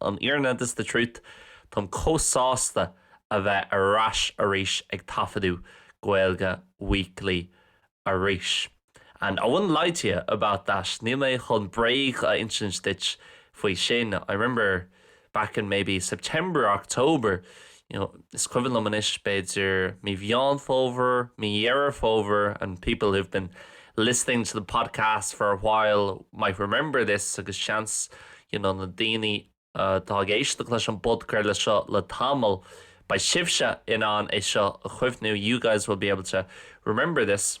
An fhírinne, this is the truth, táim chomh sásta a bheith ar ais arís ag taifeadadh Gaeilge Weekly arís. And I wouldn't lie to you about that, níl mé chun bréag a insint duit faoi sin. I remember back in maybe September or October, you know, is cuimhin liom anois, b'fhéidir mí Mheán Fómhair, mí Dheireadh Fómhair, and people who've been listening to the podcast for a while might remember this, agus seans, you know, na daoine atá ag éisteacht leis an bpodcraoladh seo le tamall, beidh sibhse in ann é seo a chuimhniú, you guys will be able to remember this.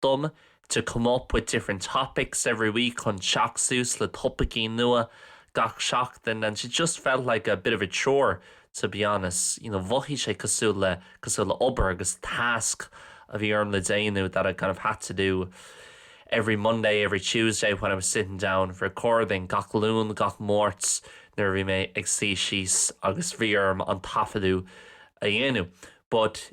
dom to come up with different topics every week chun teacht suas le topaicí nua gach seachtain and sea just felt like a bit of a chore to be honest you know mhothaigh sé cosúil le obair agus tasc a bhí orm le déanamh that I kind of had to do every Monday every Tuesday when I was sitting down for recording gach Luan gach Máirt nuair a bhí mé ag suí síos agus bhí orm an taifeadadh a dhéanamh but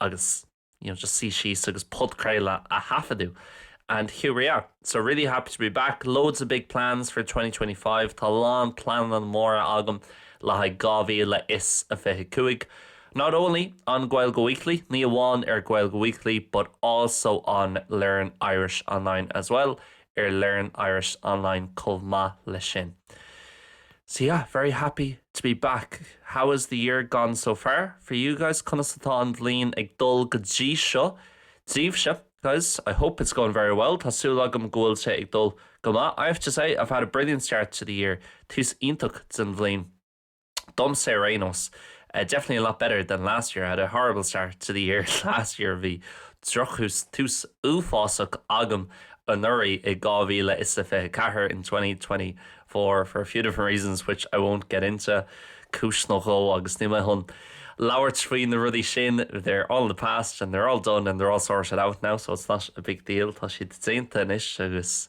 agus you know just suí síos agus podchraoladh a thaifeadadh and here we are so really happy to be back loads of big plans for 2025 tá a lán pleananna móra agam le haghaidh 2025 not only on Gaeilge Weekly ní amháin ar Gaeilge Weekly but also on Learn Irish Online as well ar Learn Irish Online chomh maith leis sin. So yeah, very happy to be back. How has the year gone so far for you guys? Conas atá an bhliain ag dul go dtí seo daoibhse? Guys, I hope it's going very well. Tá súil agam go bhfuil sé ag dul go maith. I have to say, I've had a brilliant start to the year. Tús iontach den bhliain. domsa ar aon nós, definitely a lot better than last year, I had a horrible start to the year last year bhí drochthús, tús uafásach, agam anuraidh, i 2024 in 2024 for a few different reasons which I won't get into cúis nó dhó, agus níl mé chun labhairt faoi na rudaí sin they're all in the past and they're all done and they're all sorted out now so it's not a big deal tá siad déanta anois agus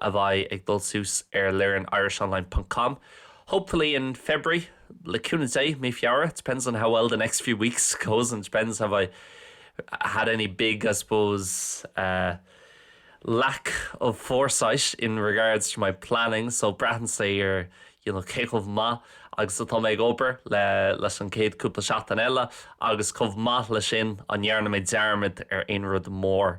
a bheidh ag dul suas ar Learn Irish Online ponc com hopefully in February le cúnamh Dé, mí Feabhra depends on how well the next few weeks goes and depends have I had any big I suppose uh lack of foresight in regards to my planning so braitheann sé ar you know cé chomh maith agus atá mé ag obair le leis an chéad cúpla seachtain eile agus chomh maith leis sin an dhearna mé dearmad ar aon rud mór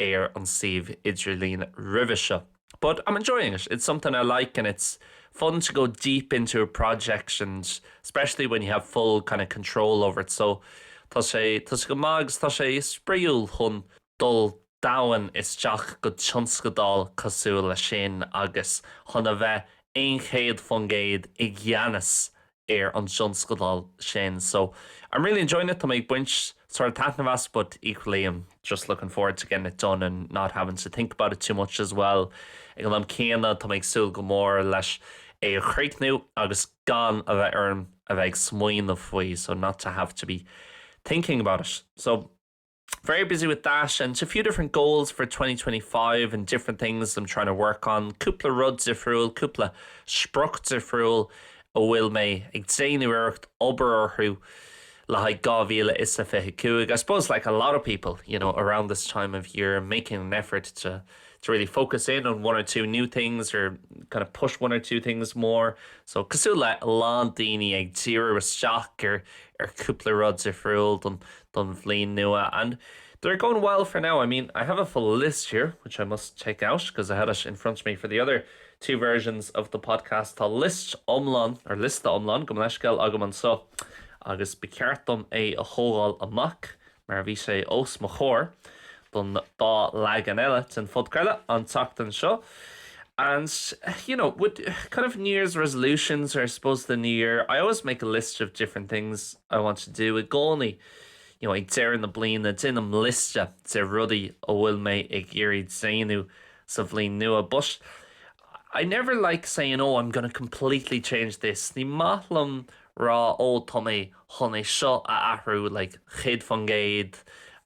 ar an suíomh idirlín roimhe seo. But I'm enjoying it, it's something I like and it's fun to go deep into a project and especially when you have full kind of control over it so tá sé tá sé go maith agus tá sé spraíúil chun dul domhain isteach go tionscadal cosúil leis sin agus chun a bheith aon céad faoin gcéad i gceannas ar an dtionscadal sin so I'm really enjoying it, tá mé ag baint sórt taitneamh as but equally I'm just looking forward to getting it done and not having to think about it too much as well. Ag an am céanna, tá mé ag súil go mór leis é a chríochnú agus gan a bheith orm a bheith ag smaoineamh faoi so not to have to be thinking about it. So. very busy with that and a few different goals for 2025 and different things I'm trying to work on. Cúpla rud difriúil, cúpla sprioc difriúil a bhfuil mé ag déanamh iarracht obair orthu le haghaidh 2025. I suppose like a lot of people, you know, around this time of year, I'm making an effort to to really focus in on one or two new things or kind of push one or two things more. So cosú le lán daoine ag tíú isteach ar ar cúpla rud difriúil don don bhliain nua and they're going well for now, I mean I have a full list here which I must take out because I had it in front of me for the other two versions of the podcast tá list iomlán or liosta iomlán gabh mo leithscéal agam anseo agus ba cheart dom é a thógáil amach mar bhí sé os mo chomhair don dá leagan eile den phodchraoladh an tseachtain seo and you know with kind of New Year's resolutions or I suppose the New Year I always make a list of different things I want to do i gcónaí you know ag deireadh na bliana déanaim liosta de rudaí a bhfuil mé ag iarraidh déanamh sa bhliain nua but I never like saying oh I'm going to completely change this ní maith liom rá ó tá mé chun é seo a athrú like céad faoin gcéad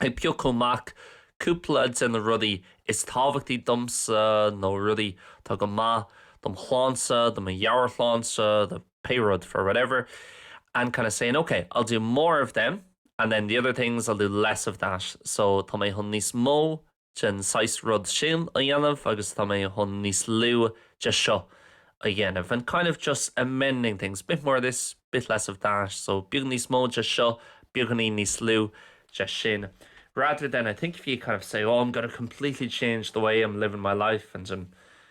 Ag piocadh amach cúpla de na rudaí is tábhachtaí domsa, nó rudaí atá go maith dom' shláinte, do mo mheabhairshláinte, do pé rud, for whatever, and kind of saying, okay, I'll do more of them and then the other things I'll do less of that, so tá mé chun níos mó den saghas rud sin a dhéanamh agus tá mé chun níos lú de seo a dhéanamh and kind of just amending things, bit more of this, bit less of that, so beag níos mó de seo, beagáinín níos lú de sin rather than I think if you kind of say, oh, I'm going to completely change the way I'm living my life and I'm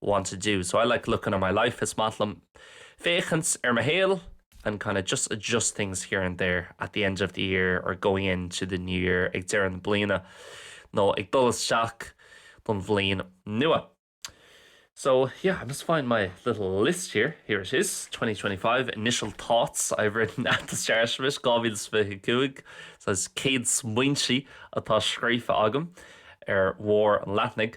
want to do. So I like looking at my life, is maith liom féachaint ar mo shaol and kind of just adjust things here and there at the end of the year or going into the new year, ag deireadh na bliana nó ag dul isteach don bhliain nua. So yeah, I'm just find my little list here. Here it is, 2025 initial thoughts I've written at the start of it, 2025. So it's céad smaointe atá scríofa agam ar mhór an leathnaigh.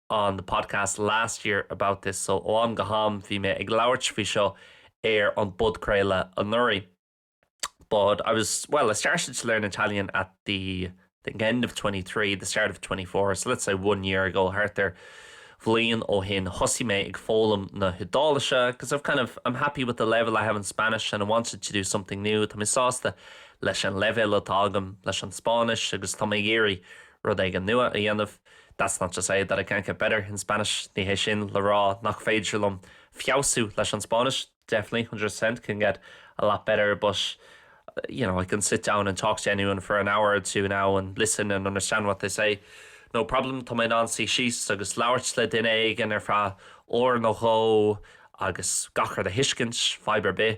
on the podcast last year about this so ó am go ham bhí mé ag labhairt faoi seo ar an bpodchraoladh anuraidh but I was well I started to learn Italian at the the end of 23 the start of 24 so let's say one year ago thart ar bhliain ó shin thosaigh mé ag foghlaim na hIodáilise because I've kind of I'm happy with the level I have in Spanish and I wanted to do something new Tá mé sásta leis an leibhéal atá agam leis an Spáinnis agus tá mé ag iarraidh rud éigin nua a dhéanamh That's not to say that I can't get better in Spanish, ní hé sin le rá nach féidir liom feabhsú leis an Spáinnis, definitely, one hundred percent can get a lot better but, you know, I can sit down and talk to anyone for an hour or two now and listen and understand what they say, no problem, tá mé in ann suí síos agus labhairt le duine éigin ar feadh uair nó dhó agus gach rud a thuiscint, fadhb ar bith.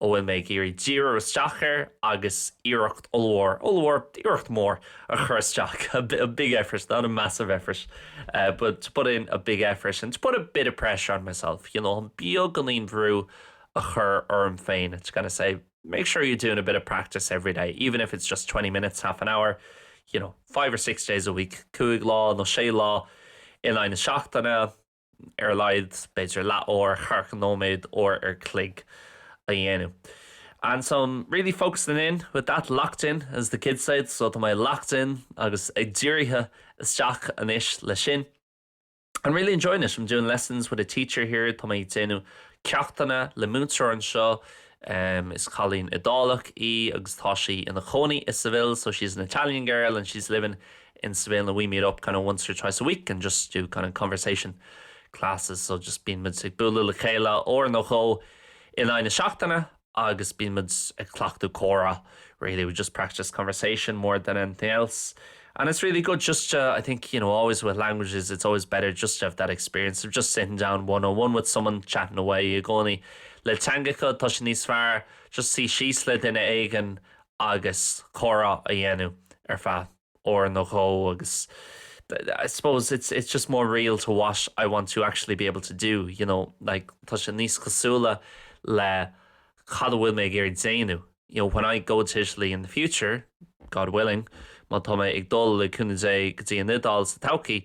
a bhfuil mé ag iarraidh díriú isteach air agus iarracht ollmhór, ollmhór, iarracht mhór a chur isteach, a big effort, not a massive effort, but to put in a big effort and to put a bit of pressure on myself, you know, beagáinín brú a chur orm féin, to kind of say, make sure you're doing a bit of practice every day, even if it's just twenty minutes, half an hour, you know, five or six days a week, cúig lá nó sé lá in aghaidh na seachtaine. ar a laghad, b'fhéidir leathuair, caoga nóiméad, uair an chloig a dhéanamh And so I'm really focusing in with that locked in as the kids said so tá mé locked in agus ag dírithe isteach anois le sin I'm really enjoying it I'm doing lessons with a teacher here tá mé ag déanamh ceachtanna le múinteoir anseo um, is cailín Iodálach í agus tá sí ina cónaí i Seville so she's an Italian girl and she's living in Spain and we meet up kind of once or twice a week and just do kind of conversation classes so just bíonn muid ag bualadh le chéile uair nó dhó in aghaidh na seachtaine agus bíonn muid ag cleachtadh comhrá really we just practice conversation more than anything else and it's really good just to I think you know always with languages it's always better just to have that experience of just sitting down one on one with someone chatting away i gcónaí le teangacha tá sé níos fearr just suí síos le duine éigin agus comhrá a dhéanamh ar feadh uair nó dhó agus I suppose it's it's just more real to what I want to actually be able to do, you know, like tá sé níos cosúla le cad a bhfuil mé ag iarraidh déanamh. You know, when I go to Italy in the future, God willing, má tá mé ag dul, le cúnamh Dé, go dtí an Iodáil sa todhchaí,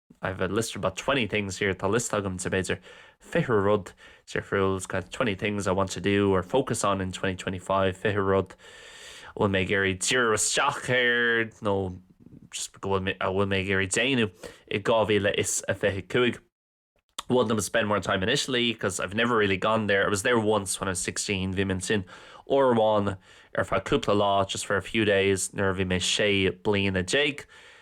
I have a list of about twenty things here, tá liosta agam de b'fhéidir fiche rud difriúil, it's kind of twenty things I want to do or focus on in twenty twenty five, fiche rud a bhfuil mé ag iarraidh díriú isteach air nó just a bhfuil mé ag iarraidh déanamh i dhá mhíle is a fiche a cúig. One of them, spend more time in Italy because I have never really gone there, I was there once when I was sixteen, bhí mé ansin uair amháin ar feadh cúpla lá, just for a few days, nuair a bhí mé sé bliana déag.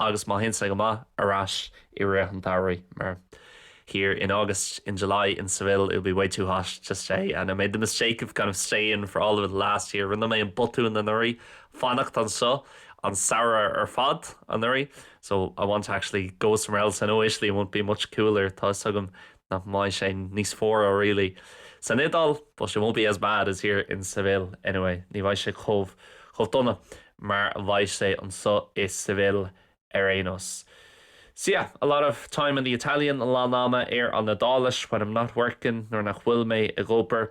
agus má théann sé go maith, ar ais i rith an tsamhraidh, mar here in August, in July, in Seville, it will be way too hot to stay and I made the mistake of kind of staying for all of it last year, rinne mé an botún anuraidh fanacht anseo an samhradh ar fad anuraidh so I want to actually go somewhere else, I know Italy won't be much cooler, tá 'fhios agam nach mbeidh sé níos fuaire really san Iodáil, but it won't be as bad as here in Seville anyway, ní bheidh sé chomh, chomh dona mar a bheidh sé anseo i Seville ar aon nós. So yeah, a lot of time on the Italian, a lán ama ar an Iodáilis when I'm not working, nuair nach bhfuil mé ag obair.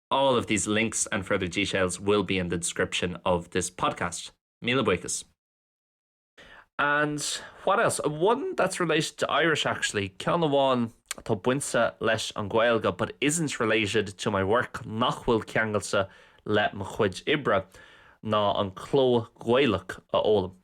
All of these links and further details will be in the description of this podcast. Míle buíochas. And what else? One that's related to Irish actually, ceann amháin atá bainte leis an Ghaeilge but isn't related to my work, nach bhfuil ceangailte le mo chuid oibre, ná an cló Gaelach a fhoghlaim.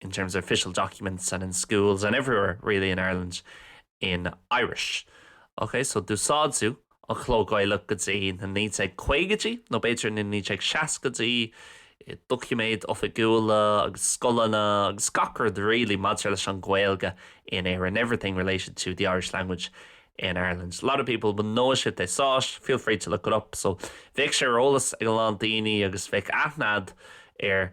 in terms of official documents and in schools and everywhere really in Ireland in Irish. Ok, so d'úsáideadh an cló Gaelach go dtí na 1950idí nó b'fhéidir na 1960idí i doiciméid oifigiúla agus scoileanna agus gach rud really maidir leis an Ghaeilge in Éirinn, everything related to the Irish language in Ireland. A lot of people would know it if they saw it, feel free to look it up. So bheadh sé ar eolas ag a lán daoine agus bheadh aithne acu ar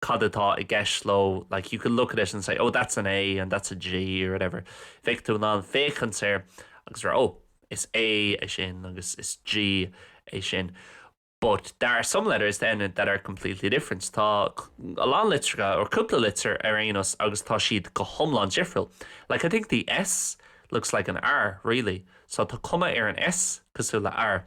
cad atá i gceist leo, like you could look at it and say oh that's an A and that's a G or whatever. Bheadh tú in ann féachaint air agus rá oh is A é sin agus is G é sin. But there are some letters then that are completely different. Tá a lán litreacha or cúpla litir ar aon nós agus tá siad go hiomlán difriúil. Like I think the S looks like an R really. So tá cuma ar an S cosúil le R.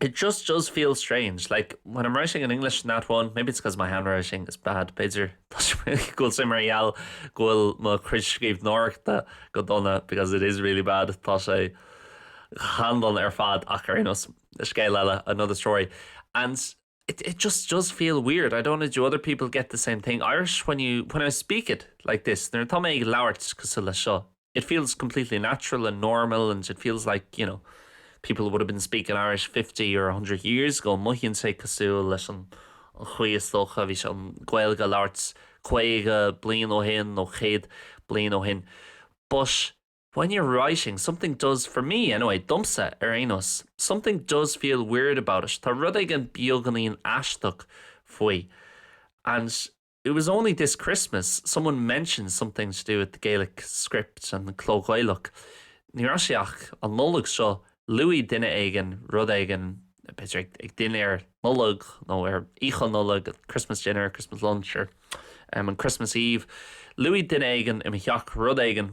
It just does feel strange, like, when I'm writing in English in that one, maybe it's because my handwriting is bad, b'fhéidir, go bhfuil sé mar gheall go bhfuil mo chuid scríbhneoireachta go dona, because it is really bad, tá sé an-dona ar fad, ach ar aon nós, scéal eile, another story. And. it it just does feel weird, I don't know do other people get the same thing, Irish when you when I speak it like this nuair atá mé ag labhairt cosúil leis seo it feels completely natural and normal and it feels like you know people would have been speaking Irish fifty or a hundred years ago mothaíonn sé cosúil leis an an chaoi is dócha a bhí an Ghaeilge á labhairt caoga bliain ó shin nó céad bliain ó shin but when you're writing, something does, for me anyway, domsa ar aon nós, something does feel weird about it, tá rud éigin beagáinín aisteach faoi, and it was only this Christmas someone mentioned something to do with the Gaelic script an cló Gaelach, ní raibh sé ach an Nollaig seo, luaigh duine éigin rud éigin, b'fhéidir ag dinnéar Nollag nó ar oíche Nollag, Christmas dinner, Christmas lunch, or um, on Christmas Eve, luaigh duine éigin i mo theach rud éigin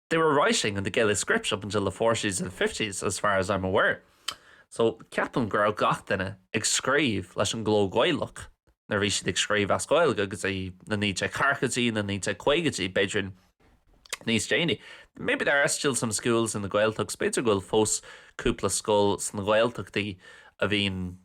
They were writing in the Gaelic script up until the forties and fifties as far as I'm aware. So ceapaim go raibh gach duine ag scríobh leis an gcló Gaelach nuair a bhí siad ag scríobh as Gaeilge go dtí na 1940idí, na 1950idí, b'fhéidir níos déanaí. Maybe there are still some schools in the Gaeltachts, b'fhéidir go bhfuil fós cúpla scoil sna Gaeltachtaí a bhíonn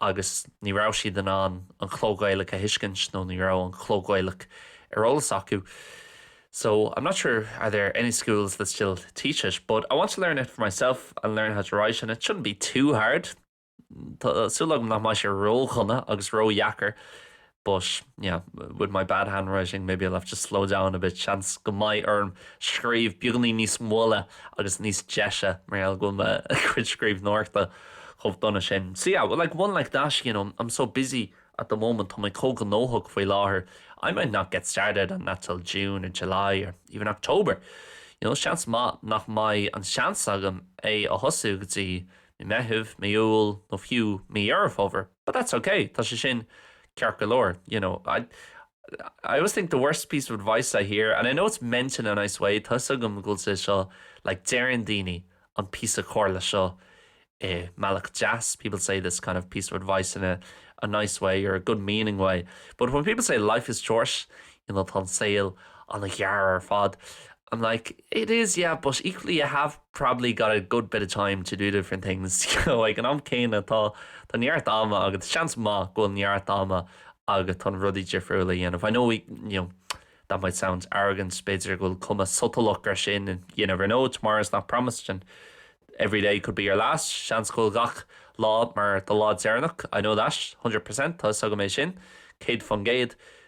agus ní raibh siad in ann an cló Gaelach a thuiscint nó ní raibh an cló Gaelach ar eolas acu So, I'm not sure are there any schools that still teach it but I want to learn it for myself and learn how to write it and it shouldn't be too hard Tá súil agam nach mbeidh sé ródhona agus ródheacair but yeah, with my bad handwriting, maybe I'll have to slow down a bit, seans go mbeidh orm scríobh beagainín níos moille agus níos deise mar gheall go bhfuil mo chuid scríbhneoireachta chomh dona sin. So yeah, well, like one like that, you know, I'm so busy at the moment, tá mé chomh gnóthach faoi láthair, I might not get started on that till June or July or even October. You know, seans maith nach mbeidh an seans agam é a thosú go dtí mí Meitheamh, mí Iúil nó fiú mí Dheireadh Fómhair. But that's ok, tá sé sin ceart go leor, you know. I I always think the worst piece of advice I hear, and I know it's meant in a nice way, tusa agam go bhfuil sé seo, like deireann daoine an píosa comhairle seo i mbealach deas, people say this kind of piece of advice in a a nice way or a good meaning way, but when people say life is short, tá an saol an-ghearr ar fad I'm like, it is, yeah, but equally you have probably got a good bit of time to do different things, you know, ag an am céanna tá tá neart ama agat, seans maith go bhfuil neart ama agat chun rudaí difriúla a dhéanamh. I know we, you know, that might sound arrogant, b'fhéidir go bhfuil cuma sotalach ar sin and you never know, tomorrow is not promised and every day could be your last, seans go bhfuil gach lá mar do lá deireanach, I know that, 100%, tá a fhios agam é sin, céad faoin gcéad.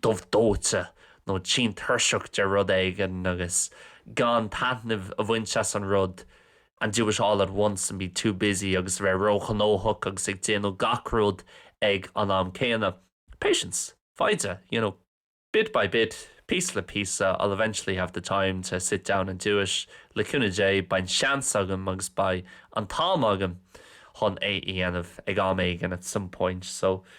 dubh dóite nó tinn tuirseach de rud éigin agus gan taitneamh a bhaint as an rud and do it all at once and be too busy agus a bheith róghnóthach agus ag déanamh gach rud ag an am céanna. Patience! Foighde! You know, bit by bit, piece le piece, I'll eventually have the time to sit down and do it, le cúnamh Dé, beidh an seans agam agus beidh an t-am agam chun é a dhéanamh ag am éigin at some point, so.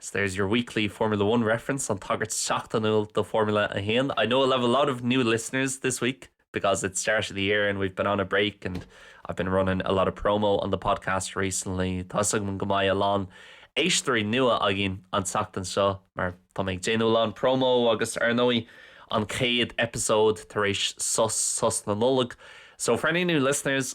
So there's your weekly Formula One reference, an tagairt seachtainiúil do Formula 1. I know I'll have a lot of new listeners this week because it's start of the year and we've been on a break and I've been running a lot of promo on the podcast recently. Tá a fhios agam go mbeidh a lán éisteoirí nua againn an tseachtain seo mar tá mé ag déanamh a lán promo agus ar ndóigh an chéad episode tar éis sos sos na Nollag. So for any new listeners,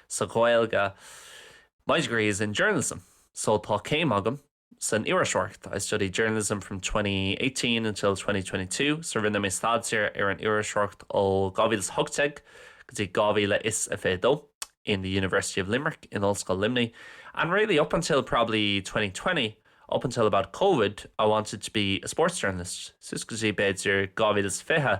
sa Ghaeilge My degree is in journalism so tá céim agam san iriseoireacht I studied journalism from twenty eighteen until twenty twenty two so rinne mé staidéar ar an iriseoireacht ó dhá mhíle is a hocht déag go dtí dhá mhíle is a fiche dó in the University of Limerick in Ollscoil Luimnigh and really up until probably twenty twenty up until about covid I wanted to be a sports journalist suas go dtí b'fhéidir dhá mhíle is a fiche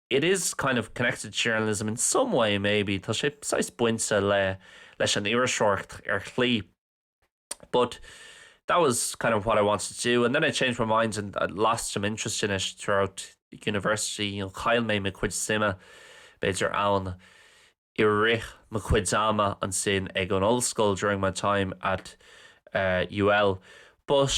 it is kind of connected journalism in some way maybe tá sé saghas bainte le leis an iriseoireacht ar shlí but that was kind of what I wanted to do and then I changed my mind and I lost some interest in it throughout university an chaill mé mo chuid suime b'fhéidir ann i rith mo chuid ama ansin ag an ollscoil during my time at uh, UL but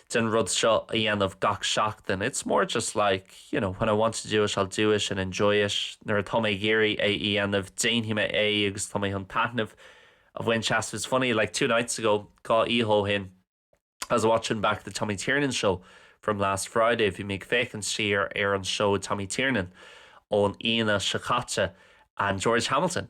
den rud seo a dhéanamh gach seachtain, it's more just like, you know, when I want to do it, I'll do it and enjoy it, nuair atá mé ag iarraidh é a dhéanamh, déanfaidh mé é agus tá mé chun taitneamh a bhaint as, it's funny, like two nights ago, dhá oíche ó shin, I was watching back the Tommy Tiernan show from last Friday, bhí mé ag féachaint siar ar an seó Tommy Tiernan ón Aoine seo caite and George Hamilton.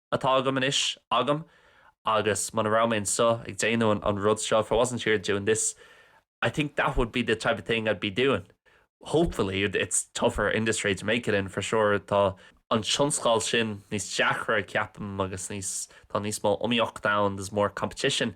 atá agam, anois agam, agus muna raibh mé anseo ag déanamh an rud seo, if I wasn't here doing this, I think that would be the type of thing I'd be doing. Hopefully, it's tougher industry to make it in for sure, tá an tionscadal sin níos deacra ceapaim agus níos, tá níos mó iomaíochta ann, there's more competition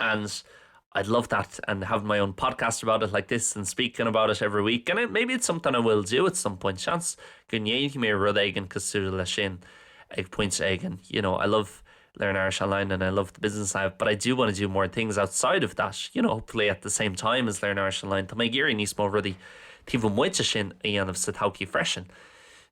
and I'd love that and having my own podcast about it like this and speaking about it every week and maybe it's something I will do at some point seans go ndéanfaidh mé rud éigin cosúil leis sin ag pointe éigin you know I love learn Irish online and I love the business I have but I do want to do more things outside of that you know hopefully at the same time as learn Irish online tá mé ag iarraidh níos mó rudaí taobh amuigh de sin a dhéanamh sa todhchaí freisin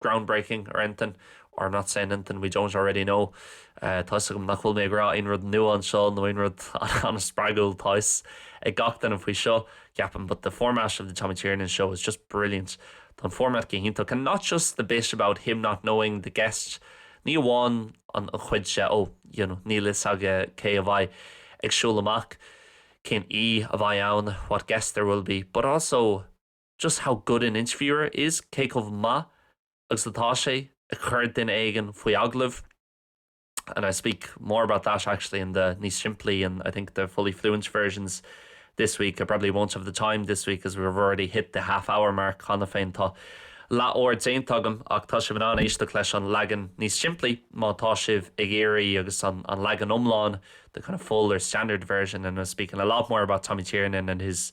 groundbreaking or anything or I'm not saying anything we don't already know'. Tá 'fhios agam nach bhfuil mé ag rá aon rud nua anseo nó aon rud an-spreagúil, tá 'fhios ag gach duine faoi seo, ceapaim, 'but the format of the Tommy Tiernan show is just brilliant'. Tá an format go hiontach and not just the bit about him not knowing the guest, ní amháin an chuid de 'oh you know níl 'fhios aige cé a bheidh ag siúl amach, cén aoi a bheidh ann, what guests there will be', but also. just how good an interviewer is, cé chomh maith agus atá sé ag cur duine éigin faoi agallamh, and I speak more about that actually in the níos simplí and, I think, the fully fluent versions this week. I probably won't have the time this week as we've already hit the half hour mark cheana féin. Tá leath uair déanta agam ach tá sibh in ann éisteacht leis an leagan níos simplí má tá sibh ag iarraidh agus an leagan iomlán, the kind of full or standard version and I'm speaking a lot more about Tommy Tiernan and his,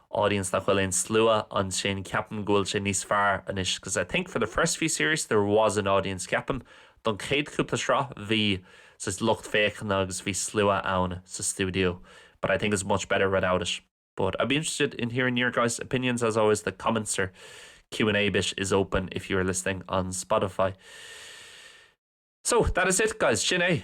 audience nach bhfuil aon slua ansin ceapaim go bhfuil sé níos fearr anois 'cause I think for the first few series there was an audience ceapaim don chéad chúpla sraith bhí saghas lucht féachana agus bhí slua ann sa stiúideo but I think it's much better without it. But I'd be interested in hearing your guys opinions as always the comments or Q&A bit is open if you are listening on Spotify. So that is it guys sin é!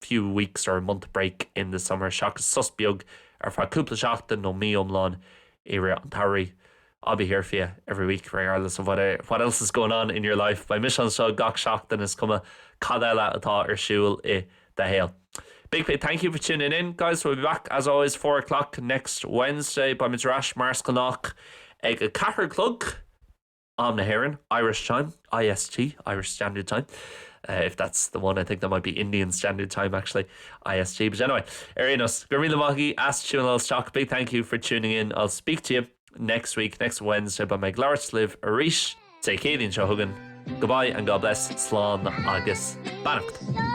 few weeks or a month break in the summer seachas sos beag ar feadh cúpla seachtain nó mí iomlán i rith an tsamhraidh I'll be here for you every week, regardless of what else is going on in your life beidh mise anseo gach seachtain is cuma cad eile atá ar siúl i do shaol Big Fay thank you for tuning in guys we'll be back as always four o'clock next Wednesday beimid ar ais mar is gnách ag a ceathair a chlog Am na hÉireann, Irish Time, IST, Irish Standard Time, if that's the one, I think that might be Indian Standard Time actually, IST, but anyway, ar aon nós, gura míle maith agaibh as tiúnáil isteach, big thank you for tuning in, I'll speak to you next week, next Wednesday, beidh mé ag labhairt libh arís, Dé Céadaoin seo chugainn, goodbye and God bless, slán agus beannacht.